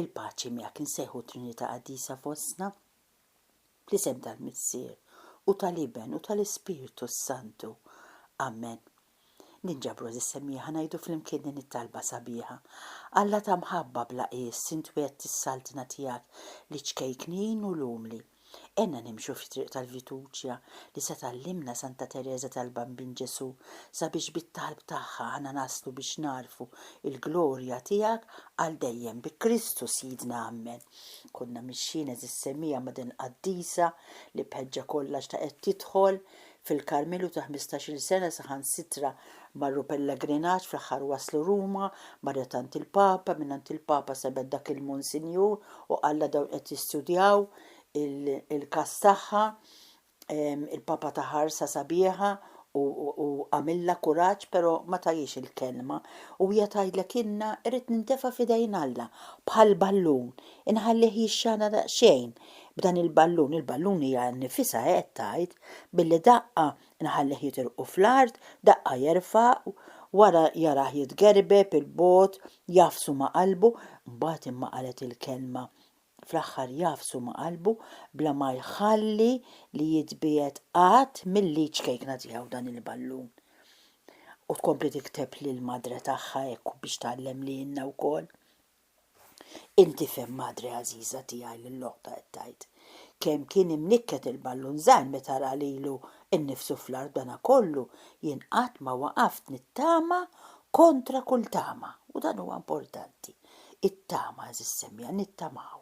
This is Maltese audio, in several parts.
Il-paċi miegħek insejħu Trinità Qaddisa fostna, fl-isem tal-Missier u tal-Iben u tal-Ispirtu s-Santu. Amen. Ninġabru għażiż semmieħa ngħidu flimkien din it-talba sabiħa. Alla ta' mħabba bla qies, int wegħdt is-saltna tiegħek liċ-ċkejknin u l-umli. Għenna nimxu fit-triq tal-fiduċja li se tgħallimna Santa Tereża tal-Bambin Ġesù sabiex bit-talb tagħha aħna naslu biex nagħrfu l-glorja tiegħek għal dejjem bi Kristu Sidna Ammen. Konna mixjin għeżiż semmija ma' din il-qaddisa li b'ħeġġa kollha xtaqet tidħol fil-Karmelu ta' ħmistax-il sena saħansitra marru pellagrinaġġ fl-aħħar waslu Ruma, marret għand il-Papa, mingħand il-Papa sebet dak il-Monsinjur u qallha dawn qed jistudjaw il-każ tagħha, il-Papa ta ħarsa sabiħa u u għamilha kuraġġ però ma tahiex il-kelma u hija tgħidlek ilna irrid nintefa' f'idejn Alla bħal ballun, inħallih jixxana daqsxejn b'dan il-ballun, il-ballun hija nnifisha hekk tgħid, Billi daqqa nħallih jitilqu fl-art, daqqa jerfa' wara jarah jitgerbeb 'il bogħod, jagħfsu ma' qalbu, mbagħad imma qalet il-kelma, fl-aħħar jagħfsu ma' qalbu bla ma jħalli li jitbiegħed qatt mill-id ċkejkna tiegħu dan il-ballun. U tkompli tikteb lill-madre tagħha hekk biex tgħallem lilna wkoll. Inti fhem madre għażiża tiegħi lil oħtha qed tgħid. Kemm kien imnikket il-ballun żgħir meta ra lilu nnifsu fl-art b'dana kollu jien qatt ma waqaft nittama kontra kull tama u dan huwa importanti. It-tama għażiż Semja nittamaw.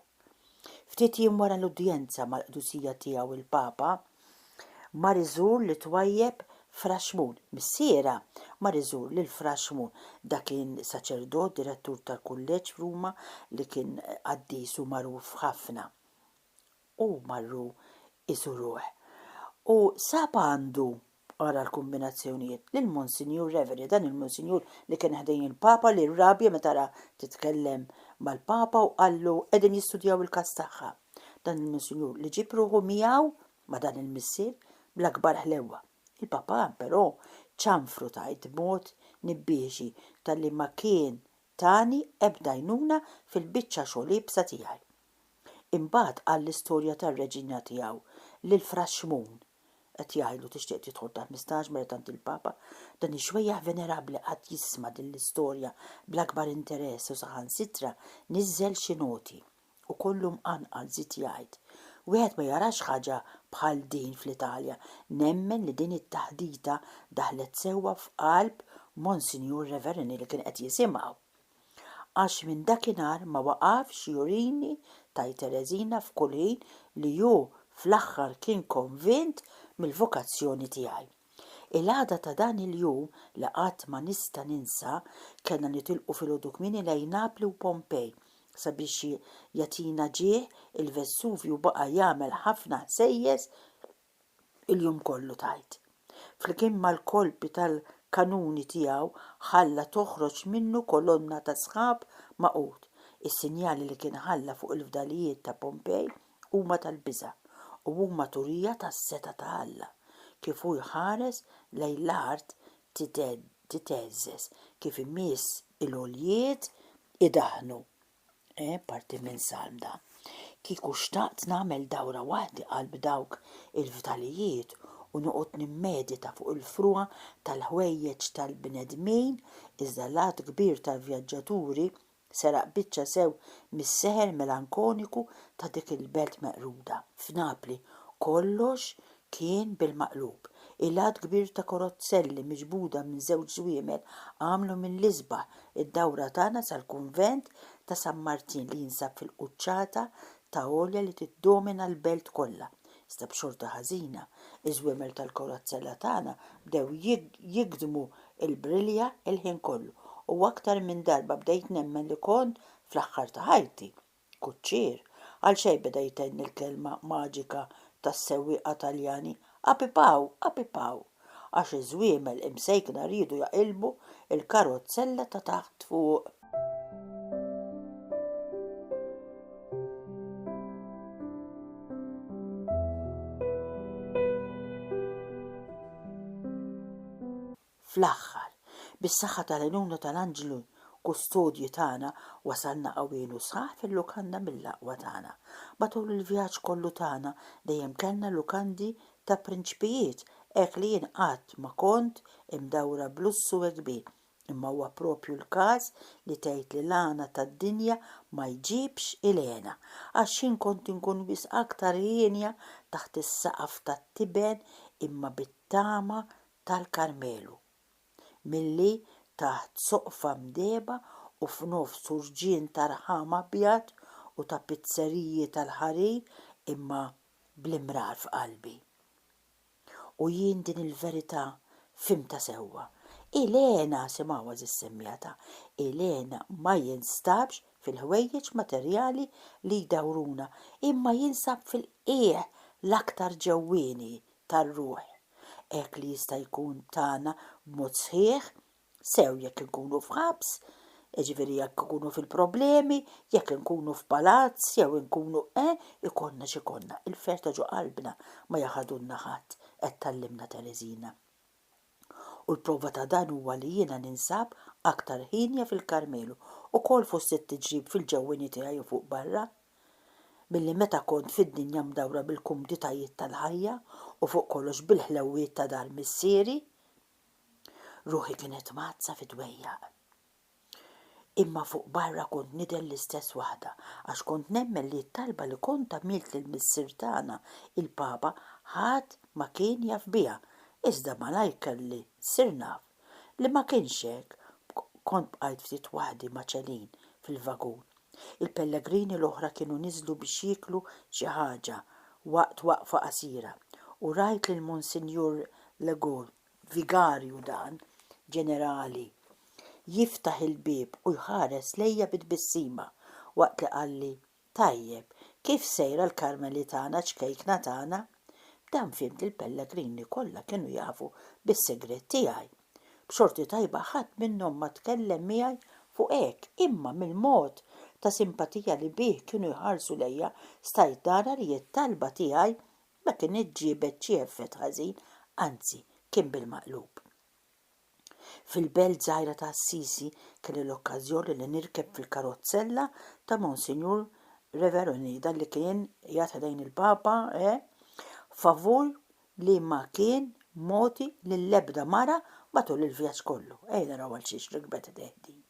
Ftit jiem wara l-udjenza mal-Qdusija Tiegħu il-Papa, Mar iżur lit-twajjeb Fraxmun. Missierha mar iżur lil Fraxmun. Dak kien saċerdot direttur tal-kulleġġ f'Ruma li kien qaddis u magħruf ħafna. U marru jżuruh. U sab għandu, ara l-kumbinazzjonijiet, lil Monsinjur Reverie, dan il-Monsinjur li kien ħdejn il-Papa li rrabja meta ra titkellem mal-Papa u qallu qegħdin jistudjaw il-każ tagħha. Dan il-Miżjur li ġieb ruħu miegħu ma' dan il-missier bl-akbar ħlewwa. Il-Papa, però, ċanfru tgħid b'mod nibbiexi talli ma kien tani ebda għajnuna fil-biċċa xogħol iebsa tiegħi. Imbagħad qal l-istorja tar-reġina tiegħu lil Fra Xmun. Qed jgħidlu tixtieq tidħol taħt mistaġ meta tant il-Papa, dan ix-xwejjaħ venerabbli qagħad jisma' din l-istorja bl-akbar interess u saħansitra niżżel xi noti. U kollu mqanqal, żied jgħid. Wieħed ma jarax ħaġa bħal din fl-Italja. Nemmen li din it-taħdita daħlet sewwa f'qalb Monsinjur Reverini li kien qed jisimgħu. Għax minn dakinhar ma waqafx jurini ta' Tereżina f'kull ħin li hu fl-aħħar kien konvint mill-vokazzjoni tiegħi. Il-għada ta' dan il-jum li qatt ma nista' ninsa kellna nitilqu filgħodu kmieni lejn Napli u Pompej. Sabiex jagħtina ġieħ, il-Vesuvju baqa' jagħmel ħafna ħsejjes il-jum kollu tgħid. Flimkien mal-kolpi tal-kanuni tiegħu ħalla toħroġ minnu kolonna ta' sħab magħqud. Is-sinjali li kien ħalla fuq il-fdalijiet ta' Pompej Huma tal-biża', u huma turija tas-setgħa ta' Alla, kif hu jħares lejn l-art titgħeżżeż, kif imiss il-għoljiet idaħħnu. Eh, parti minn salm dan! Kieku xtaqt nagħmel dawra waħdi qalb dawk il-fdalijiet u noqgħod nimmedita fuq il-frugħa tal-ħwejjeġ tal-bnedmin, iżda l-għadd kbir tal-vjaġġaturi Seraq biċċa sew mis-seħer melankoniku ta' dik il-belt meqruda, f'Napli. Kollox kien bil-maqlub. Ilgħad kbir ta' korozzelli miġbuda minn żewġ żwiemel għamlu mill-isbaħ id-dawra tagħna sal-kunvent ta' San Martin li jinsab fil-quċċata ta' għolja li tiddomina l-belt kollha, iżda b'xorta ħażina, iż-żwiemel tal-korozzella tagħna bdew jigdmu l-brilja l-ħin kollu, u aktar minn darba bdejt nemmen li kont fl-aħħar ta' ħajti. Kuċċier, għal xejn beda jtenni l-kelma maġika tas-sewwieqa Taljani, Apipaw! Apipaw! għax iż-żwiemel imsejkna riedu jaqilbu l-karozzella ta' taħt fuq. Fl-aħħar, bis-saħħa tal-għenuna tal-anġlu kustodji tagħna, wasalna qawwin u sħaħ fil-lukanda mill-aqwa tagħna. Matul il-vjaġġ kollu tagħna dejjem kellna lukandi Ta' prinċpijiet hekk li jien qatt ma kont imdawwra b'lussu hekk kbir, imma huwa proprju l-każ li tgħid li l-għana tad-dinja ma jġibx il-hena, għax jien kont inkun wisq aktar hienja taħt is-saqaf tat-tiben imma bit-tama tal-Karmelu, milli taħt soqfa mdehba u f'nofs urġien ta' rħam abjad u ta' pizzeriji tal-ħarir imma bl-imrar f'qalbi. U jien din il-verità fhimtha sewwa. Elena, simgħu għażiż semmijatha, Elena ma jinstabx fil-ħwejjeġ materjali li jdawruna, imma jinsab fil-qiegħ l-aktar ġewwieni tar-ruħ, hekk li jista' jkun tagħna b'mod sħiħ sew jekk inkunu f'ħabs, jiġifieri jekk ikunu fil-problemi, jekk inkunu f'palazz jew inkunu eh, ikollna x'ikollna, il-ferħ ta' ġo qalbna ma jaħadulna ħadd, qed tgħallimna Tereżina. U l-prova ta' dan huwa li jiena ninsab aktar hienja fil-Karmelu, ukoll fost it-tiġrib fil-ġewwieni tiegħi u fuq barra, milli meta kont fid-dinja mdawra bil-kumditajiet tal-ħajja u fuq kollox bil-ħlewwiet ta' dar missieri. Ruħi kienet mgħaddsa fi dwejjaq. Imma fuq barra kont nidher l-istess waħda, għax kont nemmen li t-talba li kont għamilt lil Missier tagħna, il-Papa, ħadd ma kien jaf biha, iżda malajr kelli ssir naf li ma kienx hekk, kont bqajt ftit waħdi ma' Celine fil-vagun. Il-pellegrini l-oħra kienu niżlu biex jieklu xi ħaġa waqt waqfa qasira u rajt lil Monsinjur Legault, vigarju dan, ġenerali, jiftaħ il-bieb u jħares lejja bi tbissima waqt li qalli, Tajjeb, kif sejra l-Karmeli tagħna ċkejkna tagħna? B'dan fhimt li l-pellegrini kollha kienu jafu bis-sigriet tiegħi. B'xorti tajba ħadd minnhom ma tkellem miegħi fuq hekk, imma mill-mod ta' simpatija li bih kienu jħarsu lejja stajt nara li t-talba tiegħi ma kinitx ġiebet xi effett ħażin, anzi kien bil-maqlub. Fil-belt żgħira ta' Assisi kelli l-okkażjoni li nirkeb fil-karozzella ta' Monsinjur Reveroni, dan li kien jagħti lejn il-Papa, eh, favur li ma kien mogħti lill-ebda mara matul il-vjaġġ kollu. Ejja naraw għal xiex rikbet idejh din.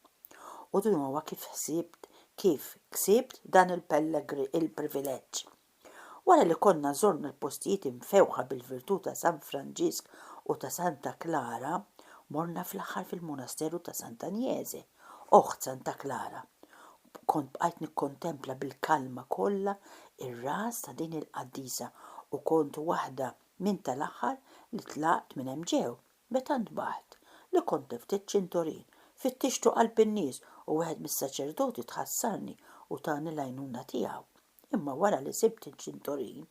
U din huwa kif ħsibt kif ksibt dan il-privileġġ. Wara li konna żorna l-postijiet imfewħa bil-virtù ta' San Franġisk u ta' Santa Klara, morna fl-aħħar fil-Munasteru ta' Santa Agnese, oħt Santa Klara. Kont bqajt nikkontempla bil-kalma kollha r-ras ta' din il-qaddisa u kont waħda minn tal-aħħar li tlaqt minn hemm ġew. Meta ntbaħt, li kont tlift iċ-ċintorin, fittixtu qalb in-nies u wieħed mis-saċerdoti tħassarni u tani l-għajnuna tiegħu. Imma wara li sibt iċ-ċintorin,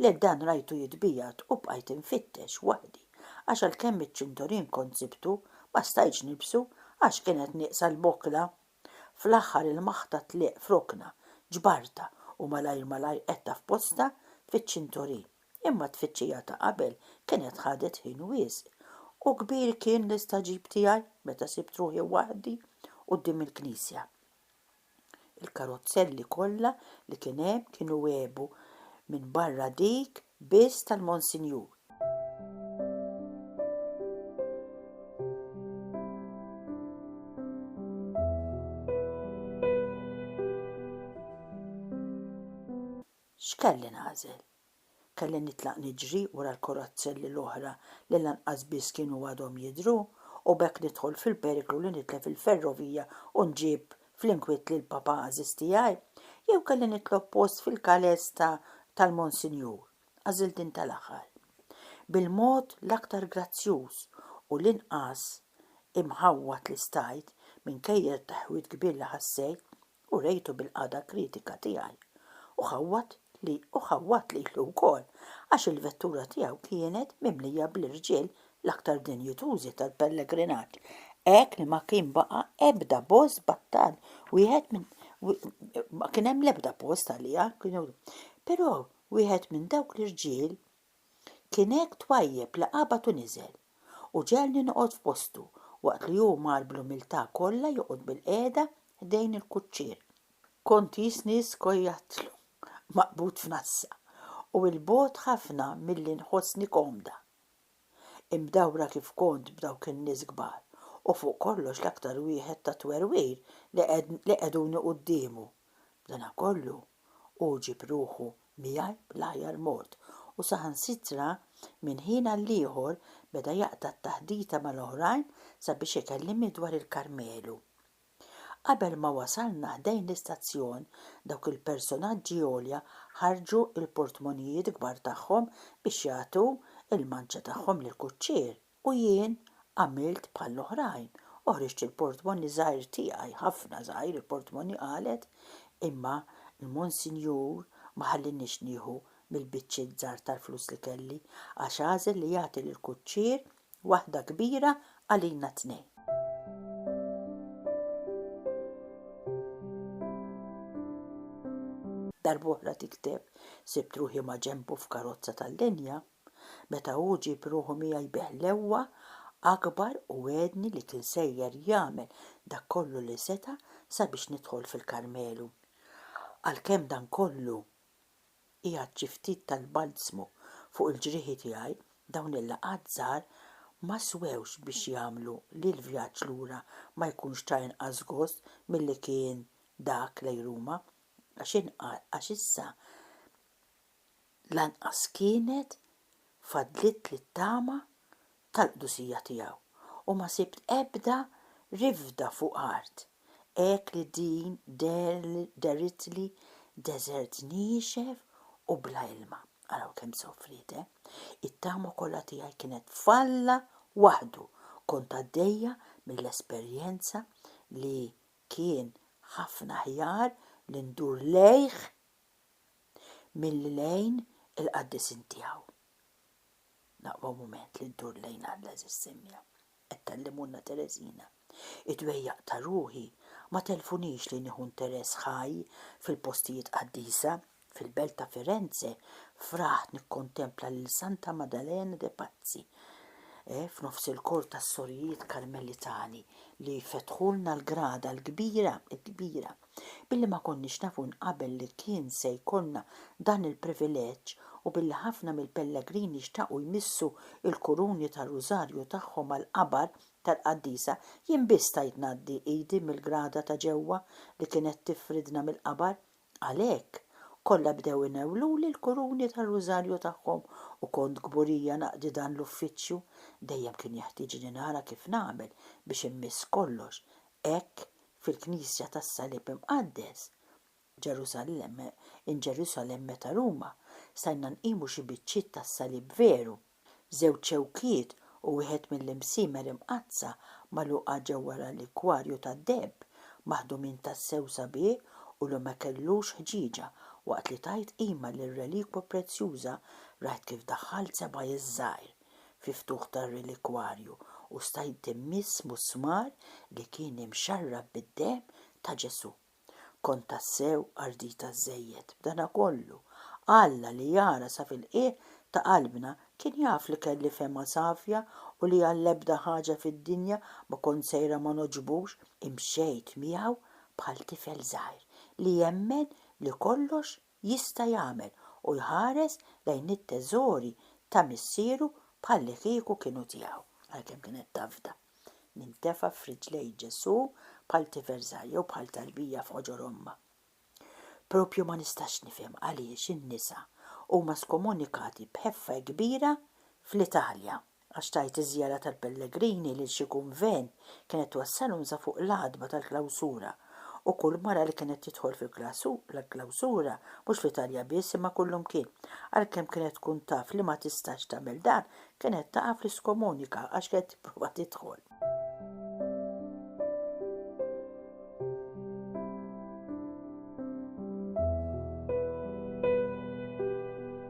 le dan rajtu jitbiegħed u bqajt infittex waħdi għax għalkemm iċ-ċintorin kont sibtu, ma stajtx nilbsu għax kienet nieqsa l-bokla. Fl-aħħar il-maħta tlieq f'rokna, ġbartha u malajr malajr qgħedtha f'postha fiċ-ċintorin. Imma t-tfittxija ta' qabel kienet ħadet ħin wisq. U kbir kien l-istagħġib tiegħi meta sibt ruħi waħdi quddiem il-knisja. Il-karozzelli kollha li kien hemm kienu għebu minn barra dik biss tal-Monsinjur. X'kelli nagħżel? Kelli nitlaq niġri wara l-korazzelli l-oħra li lanqas biss kienu għadhom jidhru u b'hekk nidħol fil-periklu li nitlef il-ferrovija u nġib fl-inkwiet lill-Papa għażiż tiegħi, jew kelli nitlob post fil-kales ta' tal-Monsinjur, għażilt din tal-aħħar. Bil-mod l-aktar grazzjuż u l-inqas imħawwad li stajt, minkejja t-taħwid kbir li ħassejt, u rejtu bil-qagħda kritika tiegħi. U ħawwad li u ħawwad lilu wkoll, għax il-vettura tiegħu kienet mimlija bl-irġiel l-aktar dinjitużi tal-pellegrinaġġ, hekk li ma kien baqa' ebda bost battal wieħed minn ma kien hemm l-ebda post għaliha, kienu però wieħed minn dawk l-irġiel kien hekk twajjeb li qabad u niżel u ġegħelni noqgħod f'postu waqt li hu mar bl-umiltà kollha joqgħod bilqiegħda ħdejn il-kuċċier. Kont jistni skojattlu maqbud f'nassa u 'l bogħod ħafna milli nħossni komda. Imdawra kif kont b'dawk in-nies kbar, u fuq kollox l-aktar wieħed ta' twerwir li qegħduni quddiemu. B'danakollu, hu ġieb ruħu miegħi bl-aħjar mod u saħansitra minn ħin għall-ieħor beda jaqta' t-taħdita mal-oħrajn sabiex ikellimni dwar il-Karmelu. Qabel ma wasalna ħdejn l-istazzjon, dawk il-personaġġi għolja ħarġu l-portmonijiet kbar tagħhom biex jagħtu l-manċa tagħhom lill-kuċċier u jien għamilt bħall-oħrajn u ħriġt il-portmoni żgħir tiegħi, ħafna żgħir il-portmoni qalet, imma l-Monsinjur ma ħallienix nieħu mill-biċċiet żgħar tal-flus li kelli għax għażel li jagħti lill-kuċċier Waħda kbira għalina t-tnejn. Darb'oħra tikteb, Sibt ruħi maġenbu f'karozza tal-linja. Meta hu ġieb ruħu miegħi bi ħlewwa akbar u wegħedni li kien sejjer jagħmel dak kollu li seta' sabiex nidħol fil-Karmelu. Għalkemm dan kollu qiegħed xi ftit tal-balzmu fuq il-ġrieħi tiegħi, dawn il-laqgħat żgħar ma swewx biex jagħmlu li l-vjaġġ lura ma jkunx ta' inqas gost milli kien dak lejn Ruma, għax issa lanqas kienet fadlitli t-tama tal-qdusija tiegħu u ma sibt ebda rifda fuq art, hekk li din dehritli deżert niexef u bla ilma. Araw kemm sofriet, eh! It-tama kollha tiegħi kienet f'Alla waħdu, kont għaddejja mill-esperjenza li kien ħafna aħjar li ndur lejh milli lejn il-qaddisin tiegħu. Naqwa mument li ndur lejn Alla eżiż Simja, qed tgħallimulna Tereżina. Id-dwejjaq ta' ruħi ma telfunix li nieħu nteress ħaj fil-postijiet qaddisa. Fil-belt ta' Firenze fraħt nikkontempla lil Santa Maddalena de Pazzi f'nofs il-kor tas-sorijiet Karmelitani li fetħulna l-grada l-kbira, il-kbira. Billi ma konniex nafu minn qabel li kien se jkollna dan il-privileġġ u billi ħafna mill-pellegrini xtaqu jmissu l-kuruni tar-rużarju tagħhom mal-qabar tal-qaddisa, jien biss stajt ngħaddi idi mill-grada ta' ġewwa li kienet tifridna mill-qabar. Għalhekk, kollha bdew inewwluli l-kuruni tar-rużarju tagħhom u kont kburija naqdi dan l-uffiċċju. Dejjem kien jeħtieġni nara kif nagħmel biex immiss kollox hekk fil-Knisja tas-Salib Imqaddes, Ġerusallem, in Jerusalem meta Ruma, stajna nqimu xi biċċiet tas-Salib veru, żewġ xewkiet u wieħed mill-imsiemer imqaddsa magħluqa ġewwa relikwarju tad-deheb, maħdumin tassew sabiħ u li ma kellux ħġieġa, waqt li tajt qima lir-relikwa prezzjuża rajt kif daħħalt sebgħi ż-żgħir. fil-ftuħ tar-relikwarju u stajt immiss musmar li kien imxarrab bid-demm ta' Ġesù. Kont tassew ardita żżejjed. B'danakollu, Alla li jara sa fil-qiegħ ta' qalbna kien jaf li kelli fehma safja u li għall-ebda ħaġa fid-dinja ma kont sejra ma nogħġbux. Imxejt miegħu bħal tifel żgħir li jemmen li kollox jista' jagħmel u jħares lejn it-teżori ta' missieru bħallikieku kienu tiegħu, għalkemm kienet tafda. Nintefa' f'riġlejn Ġesù bħal tifel żgħir jew bħal tarbija f'ħoġor ommha. Proprju ma nistax nifhem għaliex in-nisa huma skomunikati b'ħeffa kbira fl-Italja. għax tgħid iż-żjara tal-pellegrini lil xi kunvent kienet twassalhom sa fuq l-għatba tal-klawsura u kull mara li kienet tidħol fil-klawsura, mhux fl-Italja biss imma kullumkien, għalkemm kienet tkun taf li ma tistax tagħmel dan, kienet taqa' fl-iskomunika għax kienet tipprova tidħol.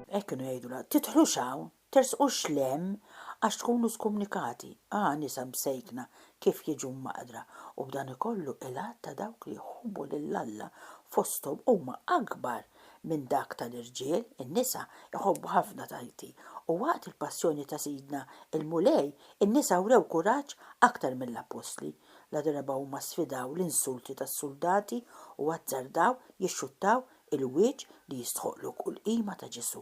Hekk kienu jgħidulha, tidħlux hawn, Tersqux 'l hemm għax tkunu skumnikati, ah nisa msejkna kif jiġu mmaqdra, u b'dani kollu il-għadd ta' dawk li jħobbu lil Alla fosthom huma akbar minn dak ta' l-irġiel, in-nisa jħobbu ħafna tajti, u waqt il-passjoni ta' Sidna l-Mulej in-nisa wrew kuraġġ aktar mill-appostli, la darba huma sfidaw l-insulti tas-suldati u azzardaw jixxuttaw il-wieġ li jistħoqqlu kull qima ta' Ġesù.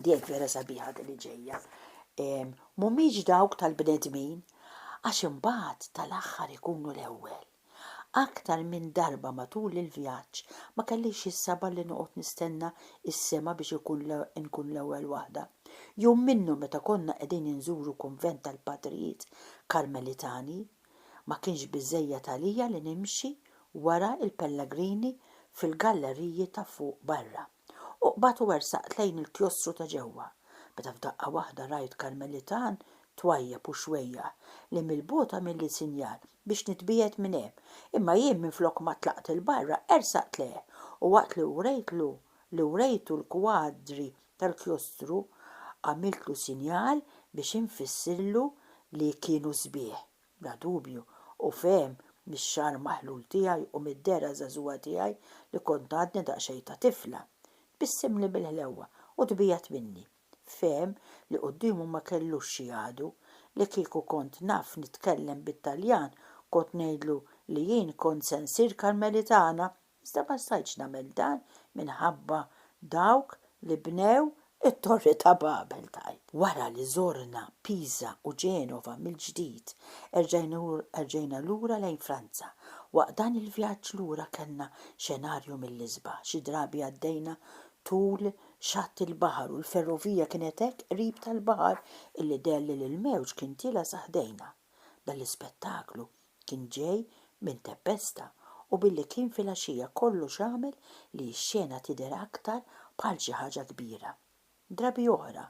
Dejk vera sabiħa din li ġejja. Mhumiex dawk tal-bnedmin, għax imbagħad tal-aħħar ikunu l-ewwel. Aktar minn darba matul il-vjaġġ ma kellix is-sabar li noqgħod nistenna s-sema biex ikun nkun l-ewwel waħda. Jum minnhom meta konna qegħdin inżuru kunvent tal-Patrijiet Karmelitani, ma kienx biżżejjed għalija li nimxi wara l-pellagrini fil-galleriji ta' fuq barra. u qbadt u wersaqt lejn il-klostru ta' ġewwa, meta f'daqqa waħda rajt Karmelitan twajjeb u xwejjaħ li mill-bogħod għamilli sinjal biex nitbiegħed minn hemm, imma jien minflok ma tlaqt 'il barra ersaqt lejh u waqt li wrejtlu li wrejtu l-kwadri tal-klostru għamiltlu sinjal biex infissirlu li kienu sbieħ. Bla dubju, hu fehem mix-xagħar maħlul tiegħi u mid-dehra żagħżugħa tiegħi li kont għadni daqsxejn ta' tifla. Tbissimli bil-ħlewwa u tbiegħed minni. Fehem li quddiemu ma kellux xi għadu. Li kieku kont naf nitkellem bit-Taljan kont ngħidlu li jien kont se nsir Karmelitana Iżda ma stajtx nagħmel dan minħabba dawk li bnew it-Torri ta' Babel, tgħid. Wara li żorna Pisa u Genova mill-ġdid, erġajna lura lejn Franza. Waqt dan il-vjaġġ lura kellna xenarju mill-isbaħ. Xi drabi għaddejna tul xatt il-baħar u l-ferrovija kienet hekk qrib tal-baħar illi deher li l-mewġ kien tiela' sa ħdejna. Dan l-ispettaklu Kien ġej minn tempesta u billi kien filgħaxija kollox għamel li x-xena tidher aktar bħal xi ħaġa kbira. Drabi oħra,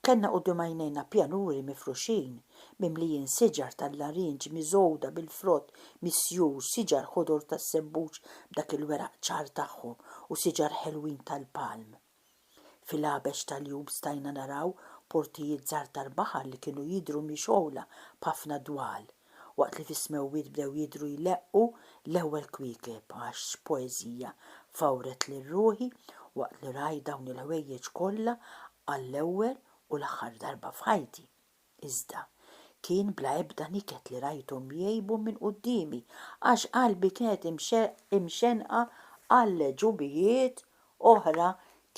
kellna quddiem għajnejna pjanuri mifruxin, mimlijin siġar tal-larinġ miżgħuda bil-frott misjur, siġar ħodor tas-sebbuġ b'dak il-weraq ċar tagħhom u siġar ħelwin tal-palm. Fil-għabex tal-jum stajna naraw portijiet żgħar tal-baħar li kienu jidhru mixgħula b'ħafna dwal, waqt li fis-smewwiet bdew jidhru jleqqu l-ewwel kwiekeb, għax x'poeżija fawret lil ruħi waqt li rajt dawn il-ħwejjeġ kollha għall-ewwel u l-aħħar darba f'ħajti! Iżda, kien bla ebda niket li rajthom jgħibu minn quddiemi, għax qalbi kienet imxennqa għal għeġubijiet oħra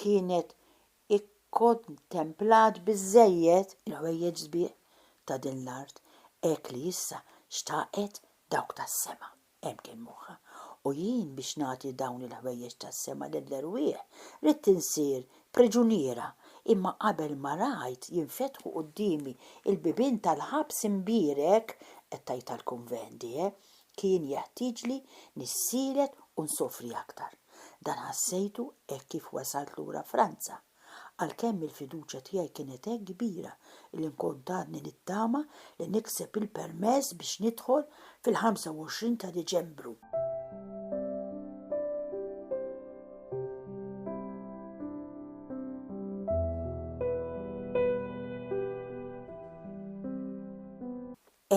kienet ikkontemplat biżżejjed. Il-ħwejjeġ sbieħ ta' din l-art, hekk li issa xtaqet dawk tas-sema. Hemm kien moħħha. U jien biex nagħti dawn il-ħwejjeġ tas-sema lill-erwieħ, ridt insir priġuniera, imma qabel ma rajt jinfetħu quddiemi l-bibien tal-ħabs imbierek, qed tgħid tal-kunvent hi, kien jeħtieġli nissielet u nsofri aktar. Dan ħassejtu hekk kif wasalt lura Franza. Għalkemm il-fiduċja tiegħi kienet hekk kbira illi nkont għadni nittama li nikseb il-permess biex nidħol fil-25 ta' Diċembru.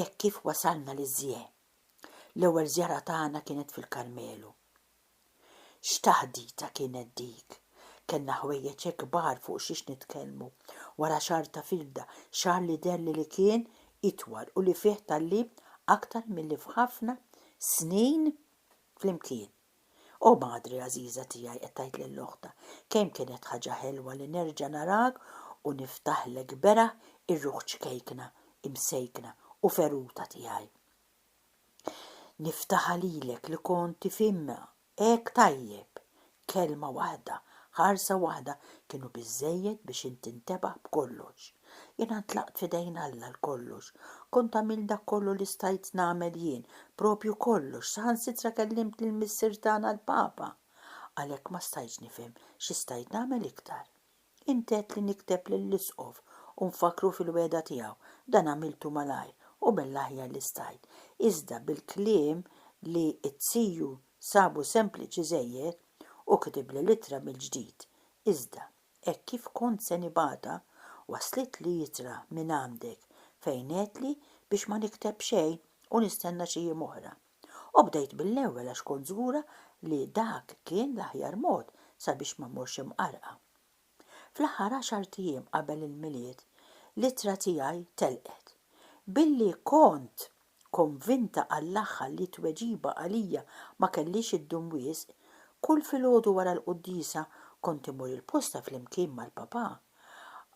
Hekk kif wasalna liż-Żjee. L-ewwel żjara tagħna kienet fil-Karmelu. X'taħdita kienet dik! Kellna ħwejjeġ hekk kbar fuq xiex nitkellmu. Wara xahar ta' firda, xahar li deherli li kien itwal u li fih tgħallimt aktar milli f'ħafna snin flimkien. O madre għażiża tiegħi, qed tgħid lil oħtha, kemm kienet ħaġa ħelwa li nerġa' narak u niftaħlek beraħ ir-ruħ ċkejkna, imsejkna u feruta tiegħi. Niftaħha lilek li kont tifhimha hekk tajjeb. Kelma waħda, ħarsa waħda kienu biżżejjed biex int tintebaħ b'kollox. Jiena ntlaqt f'idejn Alla għal kollox. Kont għamilt dak kollu li stajt nagħmel jien, proprju kollox, saħansitra kellimt lill-Missier tagħna l-Papa. Għalhekk ma stajtx nifhem xi stajt nagħmel iktar. Inti għedtli nikteb lill-Isqof u nfakkru fil-wegħda tiegħu. Dan għamiltu malajr u mill-aħjar li stajt. Iżda bil-kliem li t-tiju sabu sempliċi żejjed, hu kitibli l-ittra mill-ġdid. Iżda, hekk kif kont se nibgħatha, waslitli ittra minn għandek fejn għedtli biex ma nikteb xejn u nistenna xi jiem oħra. U bdejt mill-ewwel għax kont żgura li dak kien l-aħjar mod sabiex ma mmurx imqarrqa. Fl-aħħar għaxart ijiem qabel il-Milied, l-ittra tiegħi telqet. Billi kont konvinta għall-aħħar li t-tweġiba għalija ma kellhiex iddum wisq, kull filgħodu wara l-quddiesa kont imur il-posta flimkien mal-Papà,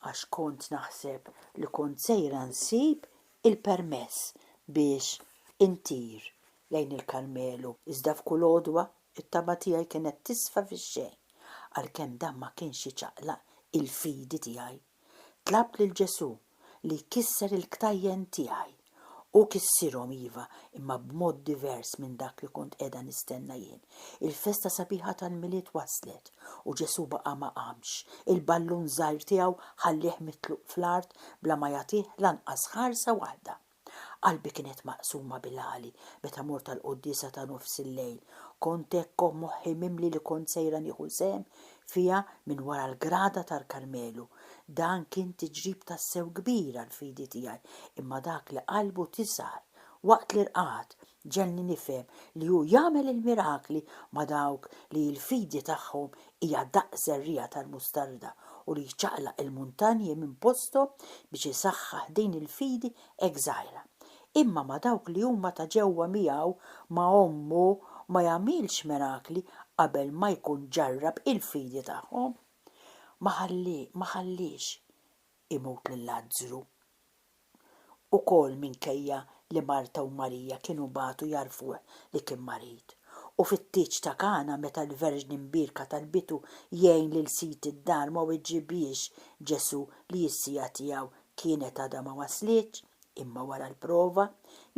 għax kont naħseb li kont sejra nsib il-permess biex intir lejn il-Karmelu, iżda f'kull għodwa t-tama tiegħi kienet tisfa fix-xejn. Għalkemm dan ma kienx iċaqlaq il-fidi tiegħi, tlabt lil Ġesù li jkisser il-ktajjen tiegħi. Hu kissirhom iva, imma b'mod divers minn dak li kont qiegħda nistenna jien. Il-festa sabiħa tal-Milied waslet u Ġesù baqa' ma qamx. Il-ballun żgħir tiegħu ħallieh mitluq fl-art bla ma jagħtih lanqas ħarsa waħda. Qalbi kienet maqsuma bil-għali meta mort għall-quddiesa ta' nofs il-lejl. Kont hekk u moħħi mimli li kont sejra nieħu sehem fiha minn wara l-grada tal-Karmelu. Dan kien tiġrib tassew kbir għall-fidi tiegħi, imma dak li qalbu tisgħar waqt l-irqad Ġegħelni nifhem li hu jagħmel il-mirakli ma' dawk li l-fidi tagħhom hija daqs żerriegħa tal-mustarda u li jċaqlaq il-muntanji minn posthom biex isaħħaħ din il-fidi hekk żgħira. Imma ma' dawk li huma ta' ġewwa miegħu, ma' ommu, ma jagħmilx mirakli qabel ma jkun ġarrab il-fidi tagħhom. Ma ħalliex imut lil Lazzru. ukoll minkejja li Marta u Marija kienu bagħtu jgħarrfuh li kien marid. U fit-tieġ ta' Kana meta l-Verġni Mbierka talbitu jgħin lil sid id-dar ma weġibhiex Ġesù li s-siegħa tiegħu kienet għadha ma waslitx, imma wara l-prova,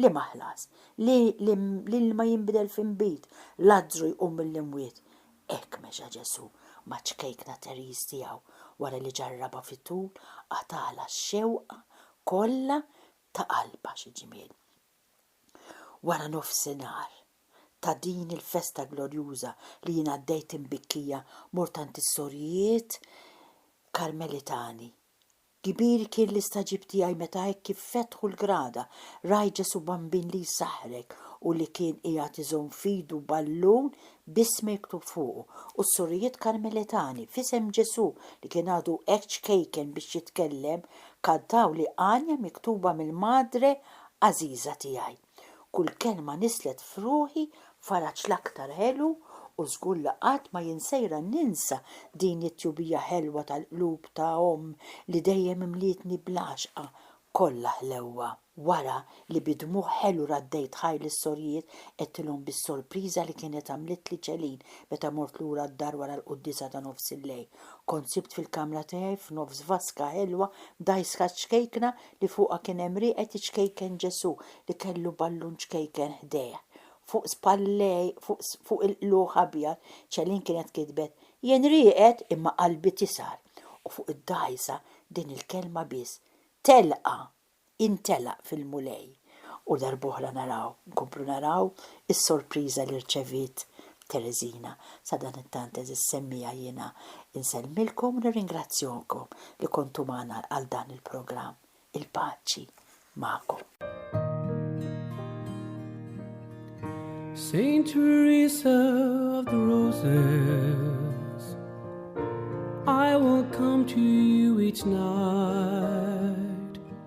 liema ħlas? Li l-ilma jinbidel f'inbid, Lazzru jqum mill-imwiet, Hekk mexa Ġesù maċ-ċkejkna Therese tiegħu wara li ġarrabha fit-tul qatagħlha x-xewqa kollha ta' qalbha. Xi ġmiel! Wara nofsinhar ta' din il-festa glorjuża li jien għaddejt imbikkija mort għand is-sorijiet Karmelitani Kbir kien l-istagħġib tiegħi meta hekk kif fetħu l-grada, rajt Ġesù Bambin li jsaħħrek u li kien qiegħed iżomm f'idu ballun b'ismi miktub fuqu, u s-sorijiet Karmelitani, f'isem Ġesù li kien għadu hekk ċkejken biex jitkellem, kantawli għanja miktuba mill-Madre għażiża tiegħi. Kull kelma nislet f'ruħi faraġ l-aktar ħelu u żgur li qatt ma jien sejra ninsa din it-tjubija ħelwa tal-qlub ta' omm li dejjem imlietni bl-għaxqa kollha ħlewwa. Wara li bi dmugħ ħelu raddejt ħajr lis-sorjiet, għedtilhom bis-sorpriża li kienet għamlitli ċelin meta mort lura d-dar wara l-quddiesa ta' nofsillejl. Kont sibt fil-kamra tiegħi f'nofs vaska ħelwa mdajsħa ċkejkna li fuqha kien hemm rieqed iċkejken Ġesù li kellu ballun ċkejken ħdejh. Fuq spallejh, fuq il-qlugħ abjad, Céline kienet kitbet, Jien rieqed imma qalbi tisgħar, u fuq id-dgħajsa din il-kelma biss, Telqa! Intelaq fil-Mulej. U darb'oħra naraw, nkomplu naraw is-sorpriża li rċeviet Tereżina. Sadanittant, għeżież semmiegħa, jiena nsellmilkom u nirringrazzjonkom li kontu magħna għal dan il-programm. Il-paċi magħkom. Saint Teresa of the Roses, I will come to you each night.